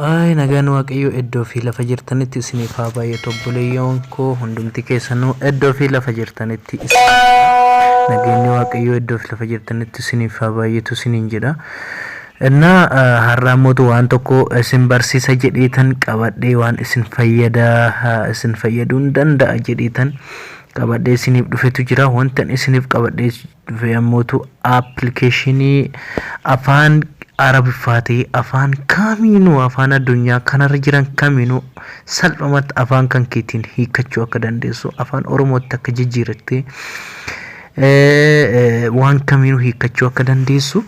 Ay nagaan waaqayyoo iddoo fi lafa jirtanitti isiniif haa baay'atu obboleeyyoon koo hundumti keessanuu iddoo fi lafa jirtanitti isin nageenyi waaqayyoo iddoo fi lafa jirtanitti isiniif haa baay'atu isiniin jedha. Inna har'aa mootu waan tokko isin barsiisa jedheetan qabadhee waan isin fayyada isin fayyaduun danda'a jedheetan qabadhee isiniif dhufetu jira wantan isiniif qabadhee dhufe ammootu appilikeeshinii afaan arabiffaatee afaan kamiinuu afaan addunyaa kanarra jiran kamiinuu salphumatti afaan kan keetiin hiikkachuu akka dandeessu afaan oromootti akka jijjiirattee waan kamiinuu hiikkachuu akka dandeessu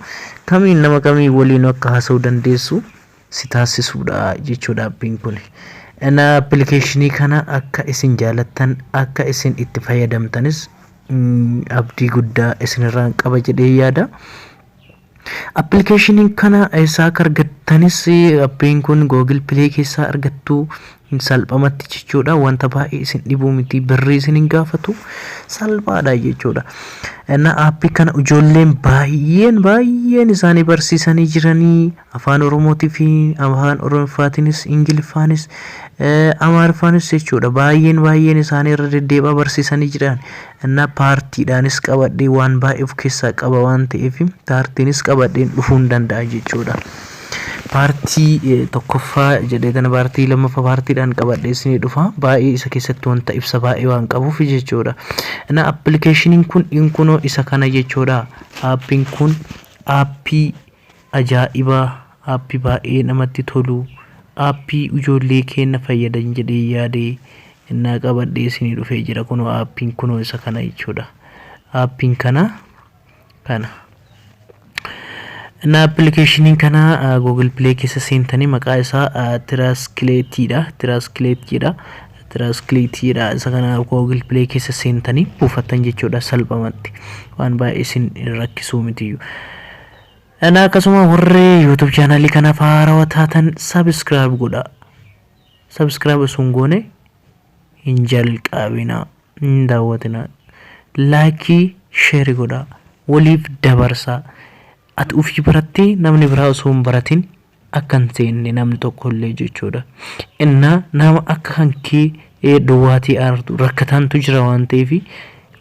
kamiin nama kamii waliin akka haasa'uu dandeessu si taasisuudha jechuudha appiin kun. Ana appilikeeshinii kana akka isin jaalattan akka isin itti fayyadamtanis abdii guddaa isinirraan qaba jedhee yaada. Appilikeeshinii kana eessaa akka argattanis appiin kun Google Play keessaa argattu salphamatti jechuudha. Wanta baay'ee isin dhibuu miti birrii isin hin gaafatu salphaadha jechuudha. Innaa appii kana ijoolleen baay'een baay'een isaanii barsiisanii jiranii afaan Oromootii fi afaan Oromiffaatiinis Ingiliffaanis Amaariffaanis jechuudha. Baay'een baay'een isaanii irra deddeebi'aa barsiisanii jiran. Ana paartiidhaanis qabadhee waan baay'ee of keessaa qaba waan ta'eef paartiinis qabadheen dhufuun danda'a jechuudha. Paartii eh, tokkoffaa jedhee kana paartii lammaffaa paartiidhaan qabadhee isinii dhufa baay'ee isa keessatti wanta ibsa baay'ee waan qabuuf jechuudha. Ana appilikeeshiniin kun inkunoo isa kana jechuudha. Aappiin kun aappii Ajaa'iba app baay'ee namatti tolu app ujoollee keenna fayyadan jedhee yaade ennaa qabadhee isinii dhufee jira kunoo app kunoo isa kana jechuudha app kana kana na application kana google play keessa seentanii maqaa isaa tiraskileetii dha tiraskileetii dha tiraskileetii dha isa kana google play keessa seentanii buufattan jechuudha salphamatti waan baay'ee isin rakkisuu mitiyyuu Ana akkasuma warri YouTube channel kanaaf haarawa taatan subscribe godha. Subscribe osoo hin goone hin jalqabina hin daawwatina. Laakii sheeri godha waliif dabarsa. Ati ofii barattee namni biraa osoo hin baratin akka hin seenne namni tokko illee jechuudha. Innaa nama akka kan kee ee, duwwaatii aartu rakkatantu jira waan ta'eef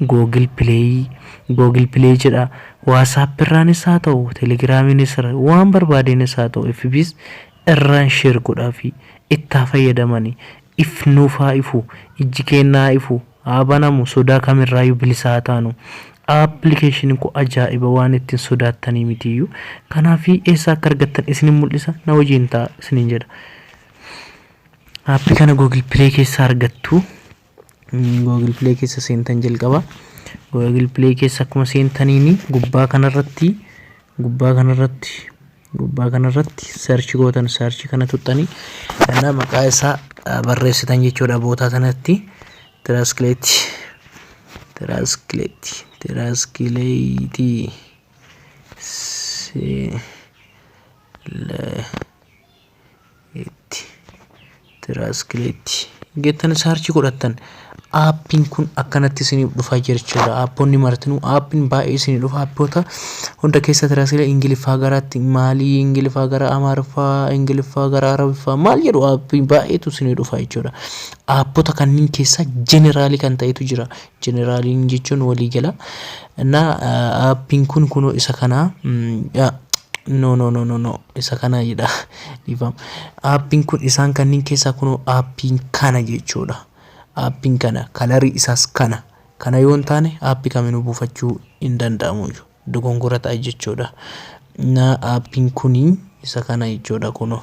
Google Play, Google Play jedhaa WhatsApp irraanis haa ta'u, Telegiraamiinis irra waan barbaadeenis haa ta'u FBs irraan share godhaafii. Itti haa fayyadamani. If nuuf haa ifu. Ijji keenya haa ifu. haa banamu sodaa kamirraayyuu bilisa haa taanu application kun ajaa'iba waan ittiin sodaattanii mitiyyuu kanaafi eessa akka argattan isinin mul'isa na wajjin ta'a isinin jedha aappi kana google play keessa argattu google play keessa seentan jalqaba google play keessa akkuma seentaniini gubbaa kanarratti gubbaa kanarratti Gubbaa kana irratti search gootan search kana tuttanii kana maqaa isaa barreessitan jechuudha bootaa sanatti translate translate translate se le itti tiraaskileetti geettan saarchii godhattan aappiin kun akkanatti isiniif dhufaa jechuudha aapponni martinuu aappiin baay'ee isinii dhufa aappoota hunda keessa tiraaskilee ingiliffaa garaatti maalii ingiliffaa gara amaariffaa ingiliffaa gara arabiffaa maal jedhu aappiin baay'eetu isinii dhufa jechuudha aappota kanneen keessa jeneraalii kan ta'etu jira Generaliin jechuun walii gala. Na appiin kun kunoo isa kanaa. No no no no no isa kana jedha dhiifama. Appiin kun isaan kanniin keessaa kunoo appiin kana jechuudha. Appiin kana kalarii isaas kana. Kana yoo hin taane appi kaminuu buufachuu hin danda'amu iyyuu. Dogongora ta'a jechuudha. Na appiin kuni isa kana jechuudha kunoo.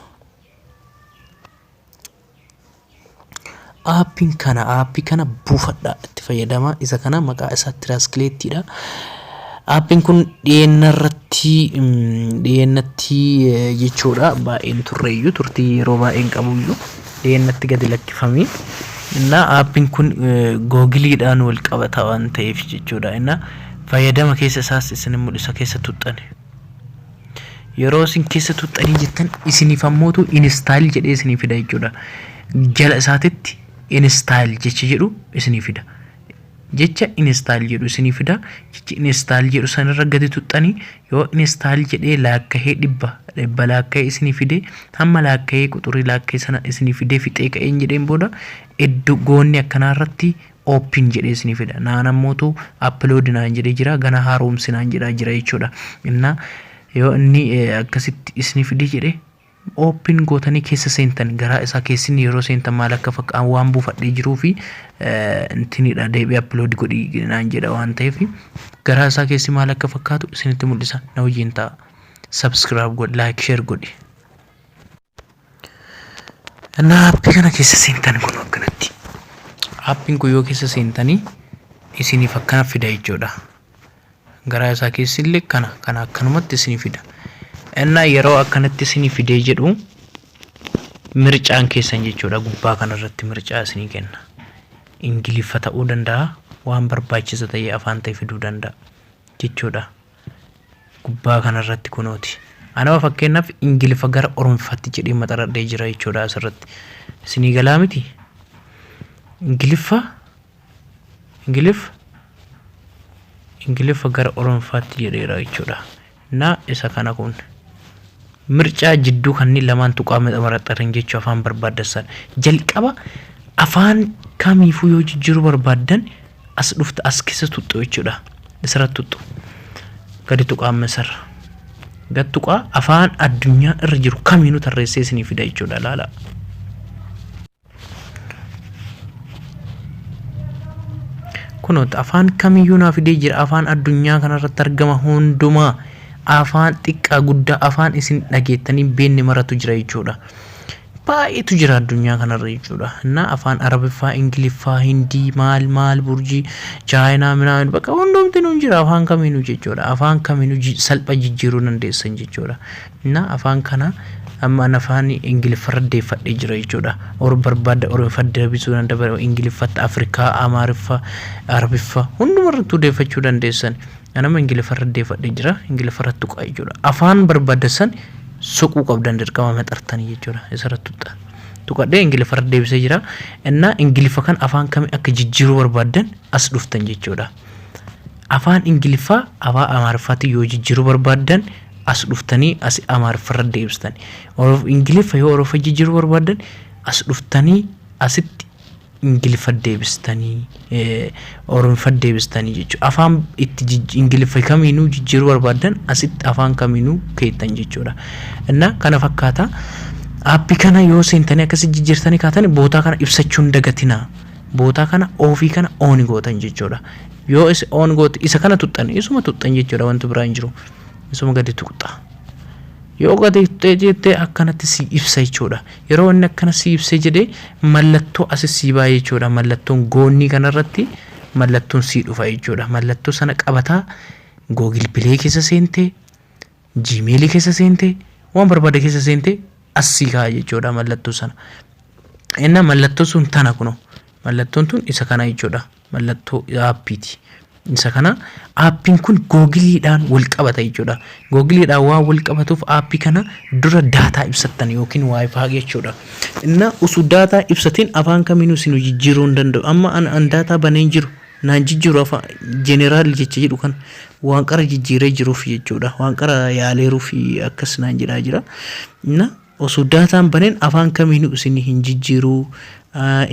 Aappiin kana aappii kana buufadhaa itti fayyadamaa isa kana maqaa isaa tiraaskileettiidha. Aappiin kun dhiyeenna irratti dhiyeennatti jechuudha baay'een turreeyyuu turtii yeroo baay'een qabuyyuu dhiyeennatti gadi lakkifamee innaa aappiin kun googiliidhaan wal qabata waan ta'eef jechuudha innaa fayyadama keessa isaas isin mul'isa keessa tuxxani. yeroo isin keessa tuxxanii jettan isiniif ammootu instaayil jedhee isinii fida jechuudha. Jala isaatitti instaayil jecha jedhu isinii fida. Jecha instaayil jedhu isinii fida. Jecha instaayil jedhu sanirra gadi tuxxanii yoo instaayil jedhee laakkahee dhibba dhibba laakkahee isinii fide hamma laakkahee quxurii laakkahee sana isinii fidee fixee ka'een jedheen booda iddoo goonni akkanaa irratti open jedhee isinii fida naan ammootu upload naan jedhee jira gana haaromsi naan jedhaa jira jechuudha inna yoo inni akkasitti isinii fide jedhe open gootanii keessa seentan garaa isaa keessin yeroo seentan maal akka fakka'an waan buufadhee jiruu fi intinidha deebi'ee upload godhii naan jedha waan ta'eef garaa isaa keessi maal akka fakkaatu isinitti mul'isa na wajjin ta'a subscribe godhi like share godhi Innaa appii kana keessa seentan kun akkanatti. Appiin kun yoo keessa seentanii isiniif akkana fida jechuudha. Garaa isaa keessi illee kana kana akkanumatti isinii fida. Innaa yeroo akkanatti isinii fidee jedhu mircaan keessan jechuudha gubbaa kanarratti mircaa isinii kenna. Ingiliffa ta'uu danda'a waan barbaachisa ta'ee afaan ta'e fiduu danda'a jechuudha. gubbaa kana irratti kunooti anama fakkeenyaaf ingiliffa gara oromfaatti jedhee maxaradhee jira jechuudha asirratti isinii galaa miti ingiliffa ingiliffa ingiliffa gara oromfaatti jedheera jechuudha na isa kana kun mircaa jidduu kanneen lamaan tuqaa maxaradharen jechuu afaan barbaadassan jalqaba afaan kamiifuu yoo jijjiiruu barbaaddan as dhufta as keessa tuxxu jechuudha isirra tuxxu gadi tuqaa amma isarra gad tuqaa afaan addunyaa irra jiru kamiinuu tarreessee isinii fida jechuudha laala kunoota afaan kamiyyuu naa fidee jira afaan addunyaa kanarratti argama hundumaa afaan xiqqaa guddaa afaan isin dhageettanii beenne maratu jira jechuudha baay'eetu jira addunyaa kanarra jechuudha. Innaa afaan Arabiffaa, Ingiliffaa, Hindii, maal maal burjii, Chaayinaa, minaamin bakka hundumtinuu hin jira afaan kamiinuu jechuudha. Afaan kamiinuu ji- salpha jijjiiruu dandeessan jechuudha. Innaa afaan kana amma an afaan Ingiliffarra deeffadhee jira jechuudha. Or barbaadda Oromiffa deebisuu danda'a, Ingiliffatti, Afrikaa, Amaariffa, Arabiffa hundumarrattuu deeffachuu dandeessan. Anama ingiliffarra deefadhe jira ingiliffarra tuqaa jechuudha afaan barbaaddassan suquu qabdan dirqama maxartanii jechuudha isarra tuqxa tuqadhee ingiliffarra deebisee jira innaa ingiliffa kan afaan kami akka jijjiiruu barbaaddan as dhuftan jechuudha afaan ingiliffaa afaan amaariffaatti yoo jijjiiruu barbaaddan as dhuftanii as amaariffarra deebistan ingiliffa yoo oroffa jijjiiruu barbaaddan as dhuftanii asitti ingiliffa deebistanii oromiffa deebistanii jechuudha. Afaan itti ingiliffa kamiinuu jijjiiruu barbaaddan asitti afaan kamiinuu keettan jechuudha. Innaa kana fakkaata aappii kana yoo seentanii akkasi jijjiirtanii kaatan bootaa kana ibsachuu hin dagatinaa. Bootaa kana oofii kana ooni gootan jechuudha. Yoo oon goote isa kana tuxxan isuma tuxxan jechuudha wanti biraa hin jiru. Isuma gadi tuqxa. Yoo gadi tuqxee jettee akkanatti sii ibsa jechuudha. Yeroo inni akkana sii ibsee jedhee mallattoo asis sii baay'ee jechuudha. Mallattoon goonnii kanarratti mallattoon sii dhufa jechuudha. Mallattoo sana qabataa Google Play keessa seentee Gmail keessa seentee waan barbaade keessa seentee as sii kaa'a jechuudha mallattoo sana. Inna mallattoo sun tana kuno. Mallattoon tun isa kana jechuudha. mallattoo aappiiti. Isa kana aappiin kun googiliidhaan wal qabata jechuudha. Googiliidhaan waan wal qabatuuf aappii kana dura daataa ibsattan yookiin waayifaa jechuudha. Inna usu daataa ibsatiin afaan kamiinuu isin jijjiiruu hin danda'u. Amma an, an daataa banee hin jiru. Naan jijjiiru afaan jeneraal jecha jedhu kan waan qara jijjiiree jiruuf jechuudha. Waan qara yaaleeruuf akkas naan jedhaa jira. Inna Osoo data hin banin afaan kamiinu isin hin jijjiiru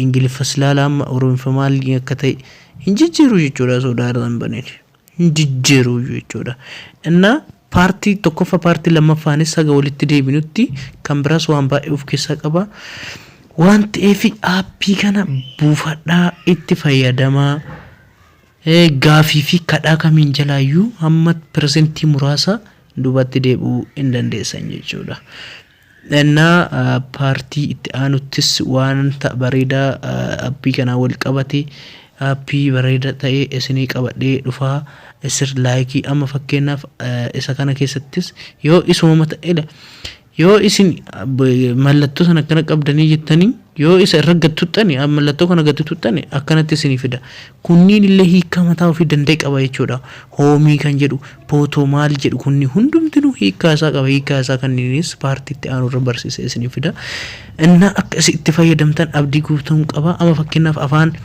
ingiliffas laala amma oromiffa maal akka ta'e hin jijjiiru jechuudha osoo data hin banin hin jijjiiru jechuudha innaa paartii tokkoffa paartii lammaffaanis haga walitti deebinutti kan biraas waan baay'ee of keessaa qaba waan ta'eef aappii kana buufadhaa itti fayyadamaa Gaafii fi kadhaa kamiin jalaayyuu hamma persentii muraasa duubatti deebi'uu hin dandeessan jechuudha. Ennaa paartii itti aanuttis waanta bareedaa appii kanaan wal qabate appii bareeda ta'e isinii qabadhee dhufa. Isir laayikii amma fakkeenyaaf isa kana keessattis yoo isuma mata ila Yoo isin mallattoo sana akkana qabdanii jettanii yoo isa irra gad tuxxani mallattoo kana gad tuxxani akkanatti isinii fida. Kunniin illee hiikkaa mataa ofii danda'e qaba jechuudha. Hoomii kan jedhu pootoo maal jedhu kunni hundumtinuu hiikkaa isaa qaba. Hiikkaa isaa kanniinis paartiitti aanu irra barsiisee isinii fida. Innaa akka isin itti fayyadamtan abdii guutuun qaba. Amma fakkeenyaaf afaan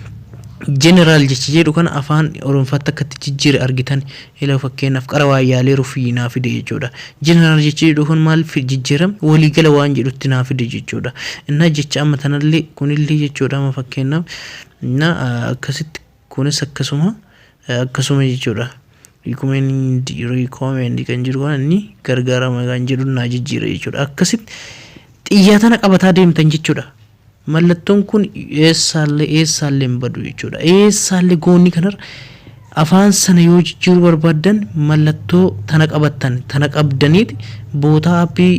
jeneraal jecha jedhu kana afaan oromfaatti akkatti jijjiire argitan Hello fakkeenyaaf qara waayyaalee rufii naa fide jechuudha. General jechii jedhu kun maal fi jijjiiram walii gala waan jedhutti naa fide jechuudha. Innaa jecha amma tanallee kunillee jechuudha amma fakkeenyaaf innaa akkasitti kunis akkasuma akkasuma jechuudha. Recommend recommend kan jedhu waan inni gargaarama kan jedhu naa jijjiira jechuudha. Akkasitti xiyyaa tana qabataa deemtan jechuudha. Mallattoon kun eessaallee eessaallee hin badu jechuudha. Eessaallee goonii kanarra afaan sana yoo jijjiiruu barbaaddan mallattoo tana qabattan tana qabdaniiti bootaa appii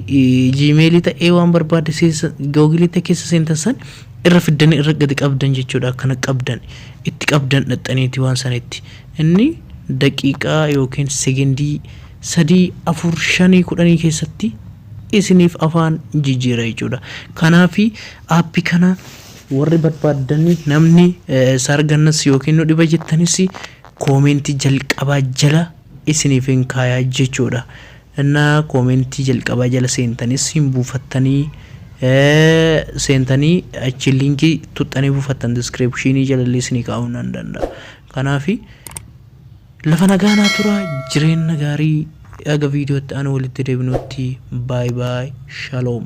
jiimeelii ta'ee waan barbaadde seessa googiliitti keessa seentan san irra fiddanii irra gadi qabdan jechuudha akkana qabdan itti qabdan dhaxxaniiti waan sanitti inni daqiiqaa yookiin segindii sadii afur shanii kudhanii keessatti isinif afaan jijira jechudha kanafi app kana warri barbadani namni sir gannas yookiin nu dhiba jettanis comment jalqaba jala isinifin kaya jechudha inna comment jalqaba jala sentani sin bufattani sentani achi link tuxxani bufattan description jalalle isini ka'u nan danda'a kanafi Lafa nagaa naa turaa jireenna gaarii haga video itti aanu walitti deebinuutti by by shalom.